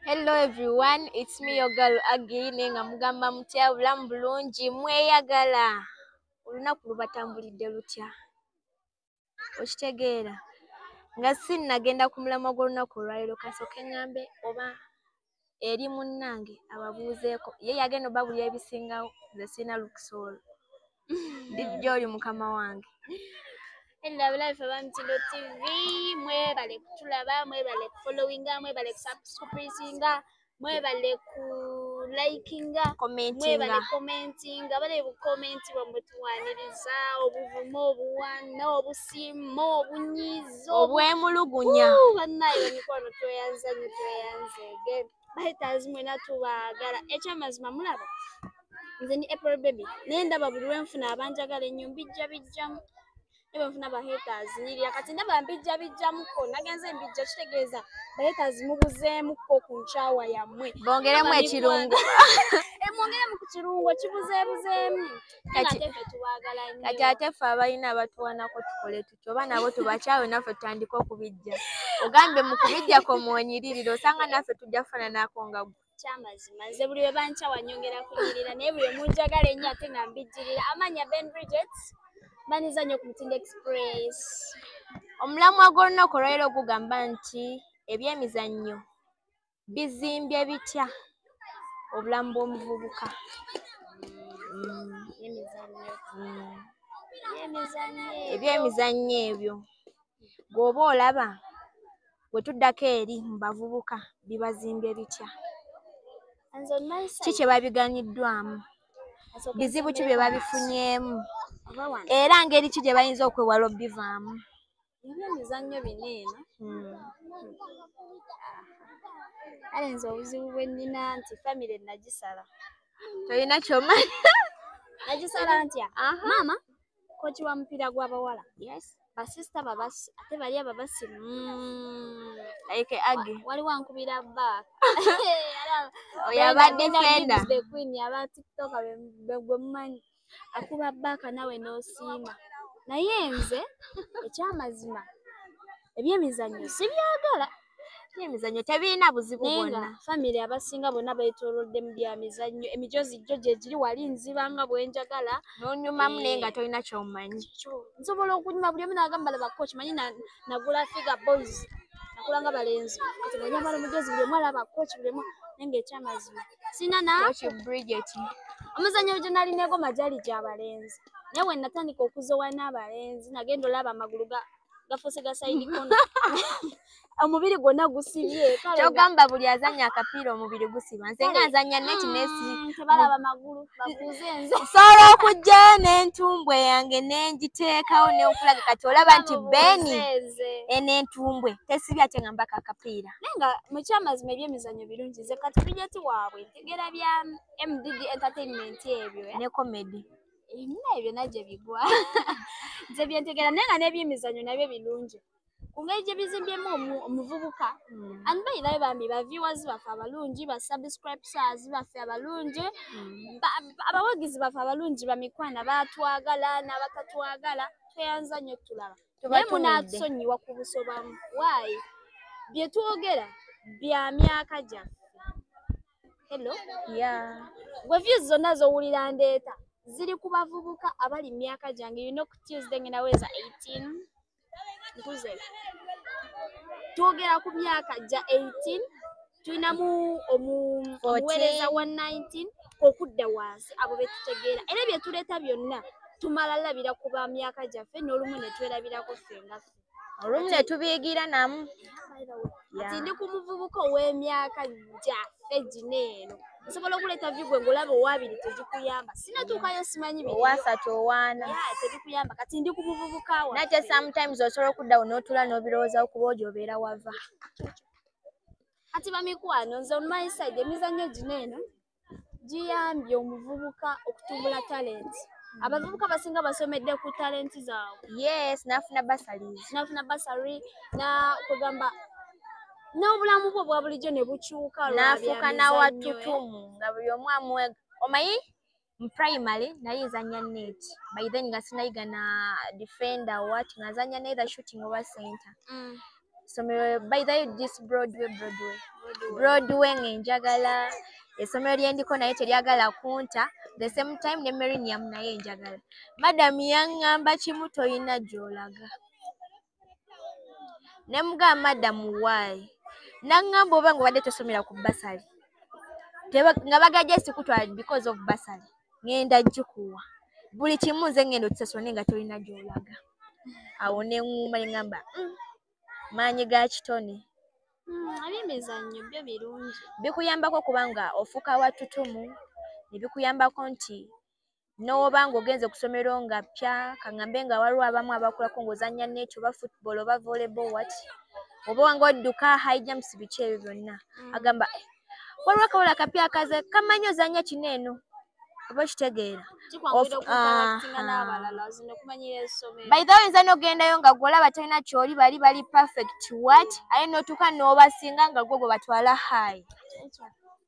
Hello everyone, it's me your girl Agi nenga mugamba mutya bulamu bulungi mweyagala olunaku lubatambulidde lutya okitegeera nga sinnagenda ku mulamwa gw'olunaku olwaliro kasooke ngambe oba eri munnange ababuuzeeko ye yagenda obabulira ebisingawo nze sirina lukisa olwo ndi gyoli mukama wange Hello, abalabe ffe abamitindo tv mwebale kutulaba mwebale kufollowinga mwebale kusubscripinga mwebale ku likinga mwebale commentinga bale bukomenti bwe mutuwaniriza obuvumu obuwana obus obwesimma obunyiizo obwemulugunya bannaye emikwano tweyanza nyo tweyanza ege baheters mwena tubaagala ekyamazima mulaba nze ni april baby naye ndaba buli lwenfuna abanjagala enyo mbijja bijjamu nebenfuna baheters nirya kati ndaba mbijja bijjamuko nagenze mbijja kitegeeza baheters mubuzeemuko ku nkyawa yammwe bongeremu ekirungo emwongeremu eh, ku kirungo kibuzeebuzeemu kati ate ffe abalina abatuwanako tukole tutyo oba nabo tubakyawe naffe tutandika okubijja ogambye mu kubijja komwonyiririra osanga naffe tujja kufananako nga gwe kyamazima nze buli we bankyawa nyongera kunyirira naye buli omunjagala ennyo ate nga mbijjirira amanya ben bridget baniza nnyo ku mutindo express omulamwa gw'olunaku olwaliro gugamba nti ebyemizannyo bizimbye bitya obulamu bw'omuvubuka ebyemizannyo ebyo gweoba olaba bwe tuddako eri mu bavubuka bibazimbye bitya ki kye babiganiddwamu bizibu ki bye babifunyeemu era ngeri ki gye bayinza okwewala obivaamu Ebyo emizannyo bino eno. Hmm. Kale nze obuzibu bwe nnina nti famire nagisala. Tolina ky'omanyi. Nagisala ntya? Maama koci wa mupiira gw'abawala. Yes. Basisita babasi ate bali ababasi. Hmm. Like Aggie. Waliwo ankubira bba. Oyo abadde fenda. Aba TikTok gwe mumanyi. akuba baaka nawe n'osiima naye nze ekyamazima ebyemizannyo sibyagala emizannyo tebirina buzibu bwonna famire abasinga bonna betolodde mu bya mizannyo emijozi jjo gyegiri wali nziba nga bwenjagala nonyumamu naye nga eh. tolina kyomanyi nsobola okunyuma buli omu nagamba labako kimanyi nagula figa boys nakulanga balenzi kati nonyamala omujozi buli omu alaba koki buli omu naye ngaekyamazima sina na Tokyo Bridget. omuzannyo gye nali negoma gyali gya balenzi naye bwe natandika okuzowa n'abalenzi nagenda olaba amagulu ga- gafuuse ga sayidi kono omubiri gwonna gusibye kale nga- Kyogamba buli azannya akapiira omubiri gusiba. Nze nga nzannya neti nesi. Mm, tebalaba magulu bakuuze nze Nsobola okujja n'entumbwe yange ne ngiteekawo ne nkulaga kati olaba nti Beni Bakubuuze nze. eno entumbwe tesibye ate nga mbaka akapiira. naye nga mukyamazima ebyemizanyo birungi ze kati bijeti waabwe ntegera bya mdd entertainment ebyo eh? ne comedy ebina ebyo nagye bigwa nze byentegera naye nga nebyemizanyo nabyo birungi kungeri gye bizimbyemu omuvubuka hmm. and bayirayo bambi ba viewers baffe abalungi ba subscribers baffe abalungi hmm. abawagizi baffe abalungi bamikwana batwagala n'abatatwagala tweyanza nnyo tulaba naye munatusonyiwa ku busobamu waayi bye twogera bya myaka gyaffe hello ya gwe views zonna zowulira ndeeta ziri ku bavubuka abali mu myaka gyange yino ku tuesday ngenda weza 18 nkuze twogera ku myaka gya 18 tulinamu omuweereza wa 19 okudda wansi abo betutegeera era byetuleeta byonna tumala labira ku ba myaka gyaffe n'olumu netwerabirako ffe nga ffe olumu netubiyigira namu kati ndi ku muvubuka ow'emyaka gyaffe gino eno nsobola okuleeta vigwe ngaolaba owabiri tegikuyamba sinatuukayo simanyi owasatu owaana tegikuyamba kati ndi ku muvubuka wa nate sometimes osobola okuddawo n'otula n'obirowoozawo kuba ojo obeera wava kati bamikwano nze on my side emizannyo gino eno giyambye omuvubuka okutumbula talenti abavubuka basinga basomedde ku talenti zaabwe yes nafuna basali nafuna basali na kugamba n'obulamu bwo bwa bulijjo ne bukyuka nafuuka nawatutumu nga buli omu amuwe omanyi mu primary naye nzanya net by then nga sinayiga na defender what nga nzanya neither shooting oba center mm. somero by the this broadway broadway broadway ngenjagala esomero lyendiko naye teryagala kunta the same time ne merinium naye njagala madam yangamba kimu toyina gyolaga ne mugamba madam why nangamba oba nga obadde tosomera ku basali nga bagajja sikutwala because of basali ngenda gikuwa buli kimu nze ngenda okisasone nga tolina gyolaga awo neŋuuma neŋamba mm, maanyi ga kitone hmm, abemizannyo byo birungi bikuyambako kubanga ofuuka watutumu nebikuyambako nti n'oba ng'ogenze ku ssomero nga ppya kaŋambe nga waliwo abamu abakulako ng'ozannya neekyo oba football oba volleyball wat oba wanga odduka high jumps biki ebyo byonna mm. agamba eh, waliwo akawula akapya akaze kamanyi ozannya kino eno oba okitegeera baitha oyinza n'ogendayo nga gwolaba tolina kyoli bali bali perfect wat aye n'otuuka n'obasinga nga gwo gwe batwala high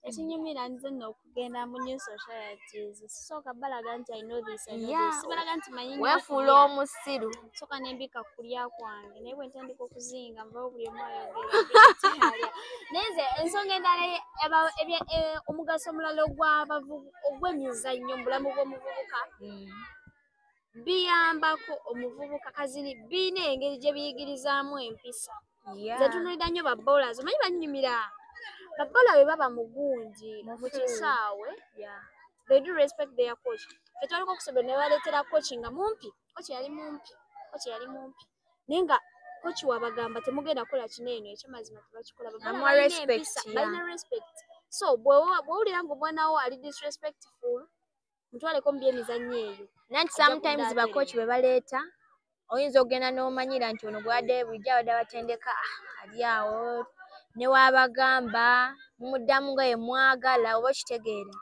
ekinyumira nze noku genda mu new societies sisooka balaga nti i know this i know Yeah. this sibalaga nti manyi nnyo weefuula kulya. omusiru soka nembika kulya kwange naye bwentandika okuzinga mbawo buli omu ayogerakyalya naye nze ensonga endala ye- eba- ebya- eh, omugaso omulala ogw'abavubu- ogw'emizannyo mu bulamu bw'omuvubuka biyambako omuvubuka kazini biina engeri gye biyigirizaamu empisa nze tunulira nnyo babola zo manyi bannyumira babola bwe baba mugungi mu kisaawe they do respect their coach fe twaliko okusobera ne baleetera coach nga mumpi coach yali mumpi coach yali mumpi naye nga coach wabagamba temugenda kukola kino eno ekyamazima tebakikola balina respect so bwewulira nga omwana wo ali disrespectful mutwaleko mu byemizannyo eyo nanti sometimes bakoki bwe baleeta oyinza okugenda n'omanyira nti ono gwade bulijjo abadde abatendeka ah, ali awo newaabagamba mumuddamu nga ye mwagala oba okitegeera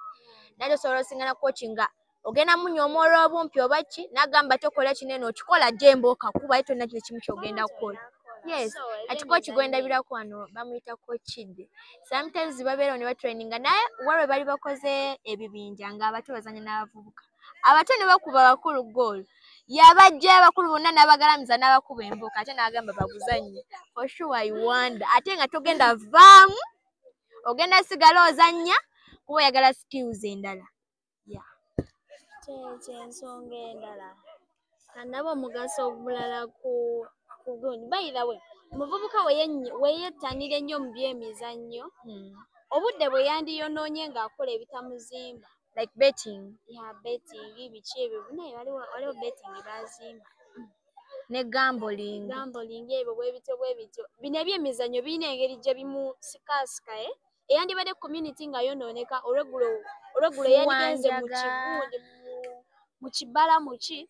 nate osobola osingana koki nga ogenda munya omwola obumpi oba ki nagamba tokola kino eno okikola jemba okakuba ye tolina kino kimu kyogenda kukola yes ati koki gwendabiraku wano bamuyita kokide sometimes babeerawo ne batraininga naye walwe bali bakoze ebibinja ng'abato bazanya n'abavubuka abato ne bakuba abakulu goolo yabajja abakulu bonna n'abagalamiza n'abakuba embuuka ate n'agamba baguzannye for sure i wonder ate nga togenda vaamu ogenda sigala ozannya kuba oyagala skills endala ya kyensonga endala anaba omugaso omulala ku kugundi bayira we omuvubuka weyettanira ennyo mu byemizannyo hmm. obudde bwe yandiyonoonye ng'akola ebitamuzimba like betting ya betting biki ebyo naye waliwo betting bazimba ne gamboling gamboling ebyo bwebityo bwebityo bino ebyemizannyo birina engeri gye bimusikaasika e eh? eyandibadde community nga yonooneka olweggulo olweggulo yandigenze mu kigundi mu kibala muki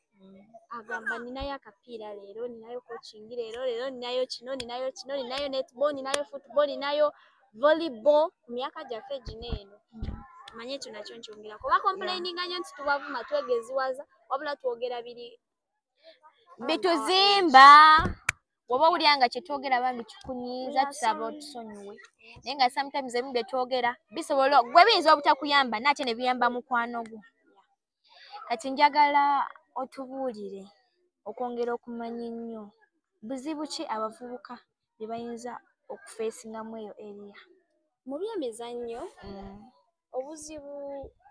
agamba ninayo akapiira leero ninayo coaching leero leero ninayo kino ninayo kino ninayo netball ninayo football ninayo volleyball ku myaka gyaffe gino eno manye ekyo nakyo nkyongera kuba complaininga nyo nti tubavuma twegeziwaza wabula twogera biri bituzimba woba owulira nga kyetwogera bambi kikunyiiza tusaba otusonyiwe naye nga sometimes ebimu byetwogera bisobola gwe biyinza obutakuyamba naate ne biyamba mukwano gwo kati njagala otubuulire okwongera okumanya ennyo buzibu ki abavubuka bye bayinza okufeesingamu eyo eriya mu byemizannyo mm. obuzibu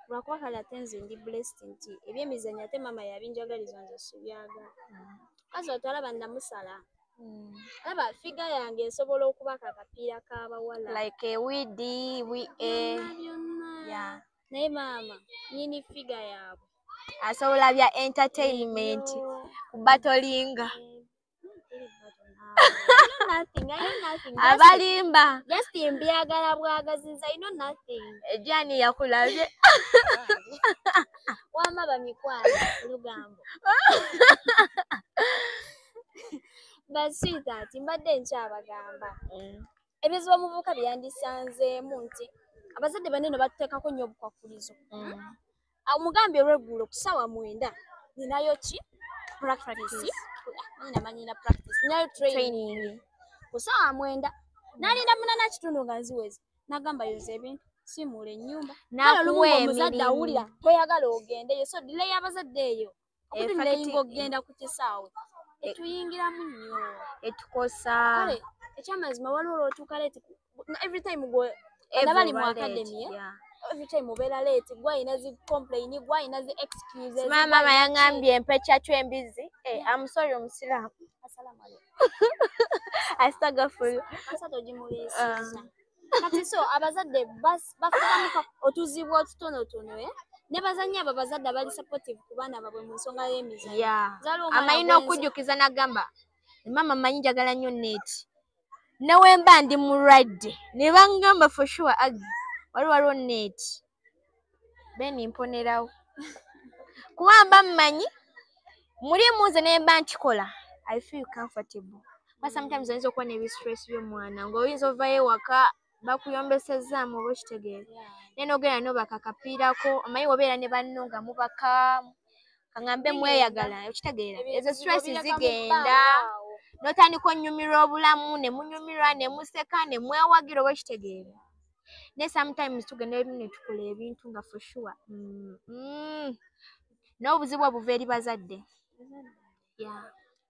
lwakuba kale ate nze ndi blessed nti ebyemizanyo ate maama yabinjagaliza nze sibyaga mm. kazi otwalaba namusala mm. laba figa yange esobola okuba ka kapiira kabawala like ewidi wi e naye maama nyini figa yaabwe asobola bya entertainment kubatolinga abalimba just mbyagala bwagaziza ino nothing ejani yakulabye wama bamikwano lugambo but sweetheart mbadde nkyabagamba mm. ebizibu omuvubuka byeyandisanzeemu nti abazadde banene batuteekako nnyo obukwakkulizo mm. amugambye olweggulo ku ssaawa mwenda ninayo ki practice namanyina practice ninayo training ku ssaawa mwenda nalinda munana kitundu nga nziwezi nagamba yoza ebintu simuula ennyumba kale olumu omuzadde awulira toyagala ogendeyo so dile y'abazadde eyo okutulayinga okugenda ku kisaawe e- etuyingiramu nnyo etukosa kale ekyamazima waliwo lwotuuka leeti every time gwe abali mu akademi every time obeera leeti gwe alina zi complaini gwe alina zi excuses maama yangambye empeca kyo embizzi eh, amusori omusiraamu asitagafulu asatu ogimuliisiza kati so abazadde bafunamuka otuzibu otutonotono e eh? ne bazannya abo abazadde abali supportive ku baana babwe mu nsonga y'emizanyo amanyi n'okujjukiza n'agamba maama manyi njagala nnyo neeti newemba ndi mulwadde ne bangamba for sure agi wali waliwo neeti beni mponerawo kuba mba mmanyi mulimu nze naye mba nkikola i feel comfortable ba sometimes oyinza okuba nebistress byomwana ngaoyinza ovayo ewaka bakuyombesezaamu oba okitegeera naye nogenda nobaka kapiirako omanyi obeera ne banno nga mubaka kaŋambe mweyagala okitegeera ezo stress zigenda notandika onyumirwa obulamu nemunyumirwa nemuseka nemwewagira oba okitegeera ne sometimes tugenda ebimu ne tukola ebintu nga for sure mm, mm. n'obuzibu obuva eri bazadde yeah.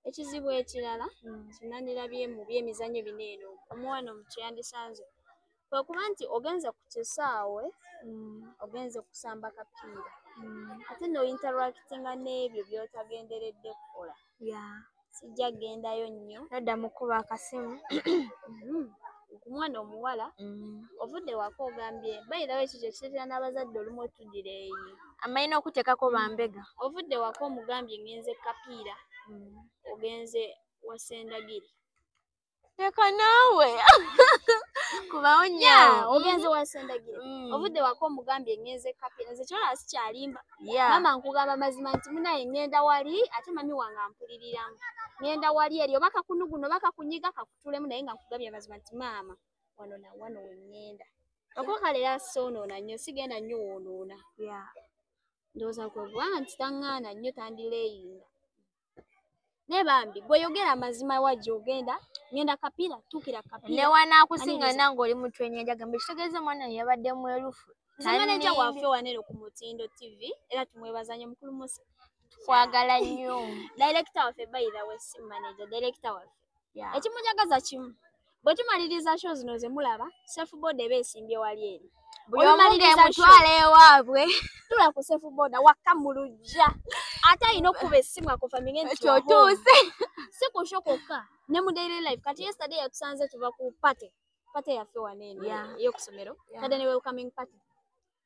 ekizibu ekirala mm. kinanirabye mu byemizanyo bino eno omuwana omutu yandisanze kwekuba nti ogenze ku kisaawe mm. ogenze kusamba kapiira mm. ate nointeractinga n'ebyo byotagenderedde kukola sijja kugendayo nnyo nadda mukuba akasimu mm-hmm. ku mwana omuwala mm. ovudde waka ogambye bayirawo ekyo kyekireetera n'abazadde olumu otudira eyi amalina okuteekako mm. bambega ovudde waka omugambye ngenze kapiira mm. ogenze wasendagiri leka naawe kubawo ya nyaawo ogenze wasendagire Mm. obudde wako omugambye ngenze kape nze kyona sikyalimba Yeah. maama nkugamba mazima nti munaye ngenda wali ate mami wange ampuliriramu ngenda wali eri oba kakunuguno oba kakunyiga kakutulemu naye nga nkugambye mazima nti maama wano na wano wengenda okwokalera soonoona nnyo sigenda nnyo woonoona Yeah. ndowooza kwe kubanga nti taŋŋaana nnyo tandileeyinga naye bambi gweyogera amazima wa gyogenda ngenda kapiira tuukira kapiira ne wanaakusinga Aniriza. nange oli mutwe nyanja gambe kitegeeza omwana ye yabadde mwerufu nze maneja Tanimbi. waffe wanero ku mutindo tv era tumwebaza nnyo mukulu musa kwagala nnyo dayirekita waffe by the way si maneja dayirekita waffe yeah. ekimunyagaza kimu bwe tumaliriza sho zino ze mulaba safe boda eba esimbye wali eri buliomutwala ewaabwe tula ku safe boda wakka mu lujja ate alina okukuba essimu akufamige ntiotuuse si ku sho kwokka ne mu daily life kati yesterday yatusanze tuva ku pate pate yaffe waneeno yeah. eyokusomero yeah. kade ne welcoming pate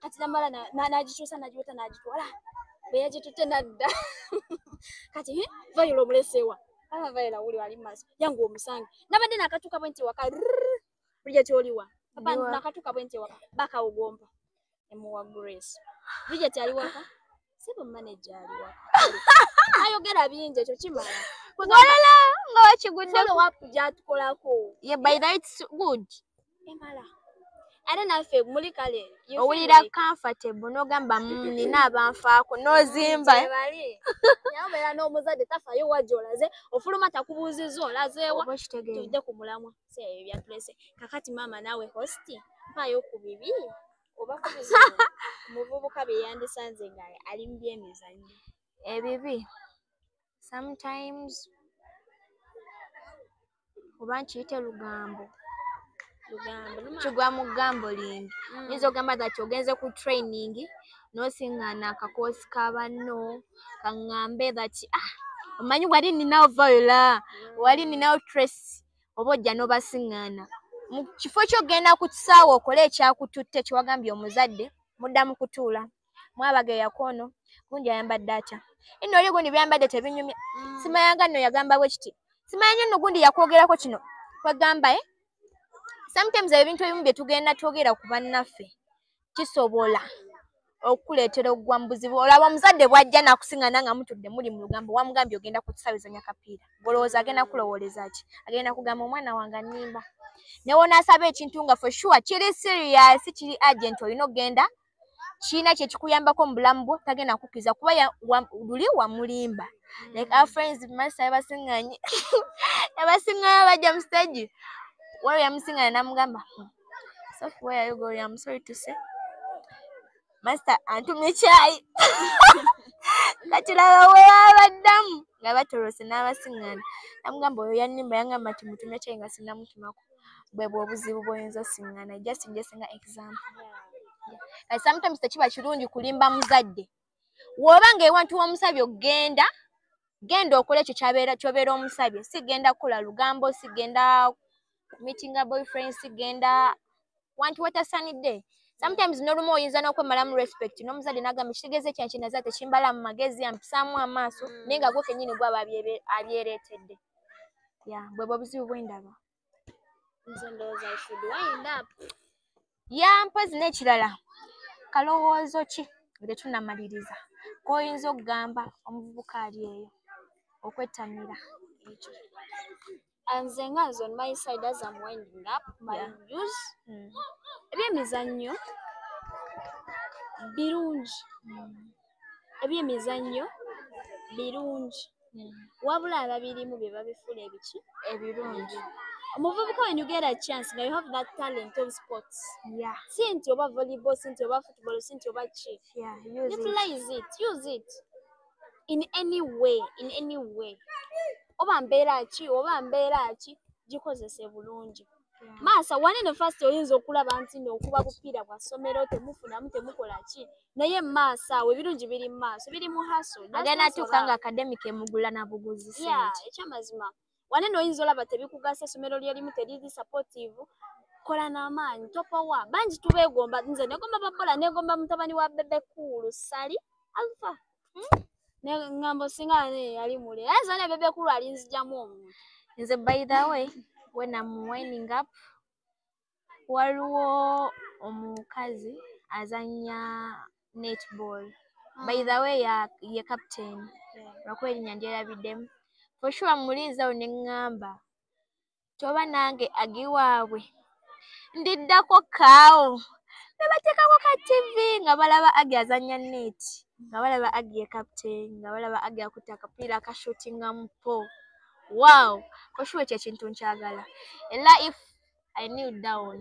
kati namala nagikyusa nagiweta nagitwala bweyagitutte nadda kati vayula omulesewa aba vayula wuli wali mumaso yangu omusange nabadde nakatuka bwe nti waka bulija kyoliwa nakatuka bwe nti waka bakawugomba emuwa grace bulija tyali waka sibu manager aliwa ayogera bingi ekyo kimala walala nga wakiguddeko wapu gyatukolako ye by the it's good emala ate naffe muli kale owulira comfortable nogamba mm, nina abanfaako nozimba nabeera n'omuzadde tafayo wajolaze ofuluma takubuuziza olazeewa tudde ku mulamwa seebyo byatulese kakati maama naawe hosti mpaayo ku bibi oba ku bizibu omuvubuka bye yandisanze nga ali mu byemizannyo ebibi sometimes oba nkiyite lugambo lugambo numa- kigwa mu gambo lingi Mm. nyinza ogamba that ogenze ku training nosingana akakoosi ka banno kaŋŋambe that ah, omanyi wali ninawo viola wali ninawo trace oba ojja n'obasiŋŋaana mu kifo ky'okugenda ku kisaawe okole ekyakututte kyewagambye omuzadde mudda mu kutuula mwabaga eyako ono gundi ayambadde atya ino oli gundi byambadde tebinyumya mm. simayanga nno yagamba bwe kiti simanya nyo nno gundi yakwogerako kino kwegamba e eh? sometimes ebintu ebimu bye tugenda twogera ku bannaffe kisobola okukuleetera okugwa mu buzibu olaba omuzadde bwajja nakusingana nga mutudde muli mu lugambo wamugambye ogenda kutusabizanya kapiira olowooza agenda kulowooleza ki agenda kugamba omwana wange annimba newonaasaba ekintu nga for sure kiri serious kiri agent olina okugenda kiina kyekikuyambako mu bulamu bwo tagenda kukkiriza kuba luli wamulimba like our friends masa yabasinganye yabasinganye bajja mu stage waliwo yamusingana namugamba So where are you going? I'm sorry to say. Master antumye chai. Katulaba we babaddamu nga batolose n'abasiŋŋaana. Namugamba oyo yannimba yangamba nti mutumye chai nga sinnamutumako. Bwe bw'obuzibu bw'oyinza osiŋŋaana. Just njesinga example. Yeah. Yeah. Sometimes tekiba kirungi kulimba muzadde. woba nga ewantu womusabye okugenda genda okole ekyo kyobeera omusabye sigenda kula lugambo sigenda meetinga boyfriend sigenda wantu watasanidde sometimes nolumu oyinza nokwemalamu respect nomuzadde nagamba ekitegeeza ekya kinaza tekimbala mu magezi ampisaamu amaaso mm. naye nga gwo kenyini gwe aba abyeretedde ya bwebwo obuzibu bwendaba nze ndowooza i should wind up ya mpozi n'ekirala kalowoozo ki nga tetunamaliriza k'oyinza okugamba omuvubuka ali eyo okwettanira ekyo nze nga nze on my side as am winding up my Yeah. views Mm. ebyemizannyo birungi ebyemizannyo birungi hmm. wabula ababirimu bye babifula ebiki ebirungi omuvubuka when you get a chance nga you have that talent of sports yeah. si nti oba volleyball si nti oba football si nti oba ki yeah, utilize it. it use it in any way in any way oba mbeera ki oba mbeera ki gikozese bulungi maasa wani ne fast oyinza okulaba nti no okuba kupiira bwa somero temufunamu temukola ki naye maasa awo ebirungi biri mu maaso biri mu haso agenda atuuka nga academic emugula na buguzi sente ekyamazima wani no oyinza olaba tebikugasa esomero lyerimu teriri supportive kola n'amaanyi topowa bangi tubeegomba nze negomba bakola negomba mutabani wa bebe kuulu sali alfa Hmm? Ne ngambo singa ne yali mule. Aza ne bebe kulu alinzijamu omuntu. Nze by the way when I'm winding up waliwo omukazi azanya netball. Mm. By the way ya ye captain. Yeah. Lwakuba erinya ndyerabiddemu. For sure muliizawo ne ngamba. kyoba nange agiwaabwe ndiddako kaawo nebateekako ka tv nga balaba agi azanya neeti nga balaba agi ye captain nga balaba agi akutte akapiira akashutinga mu po wow koshuwa ekyo ekintu nkyagala era if i new down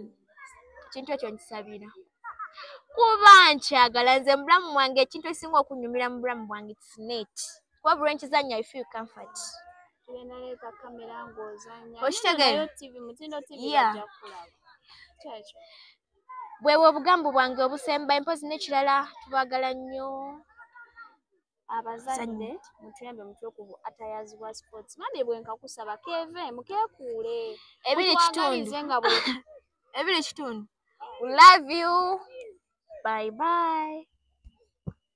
ekintu ekyo nkisabira kuba nkyagala nze mubulamu bwange ekintu ekisinga okunyumira mu bulamu bwange its neeti kuba buli lwenkizannya i feel comfort bwebwe obugambo bwange obusemba empozi nekirala tubagala nnyo abazadde mutuyambe mutwe ku atayazibwa sports mami bwenkakusaba keve mukekuule ebiri kitundu nga ebiri kitundu love you bye bye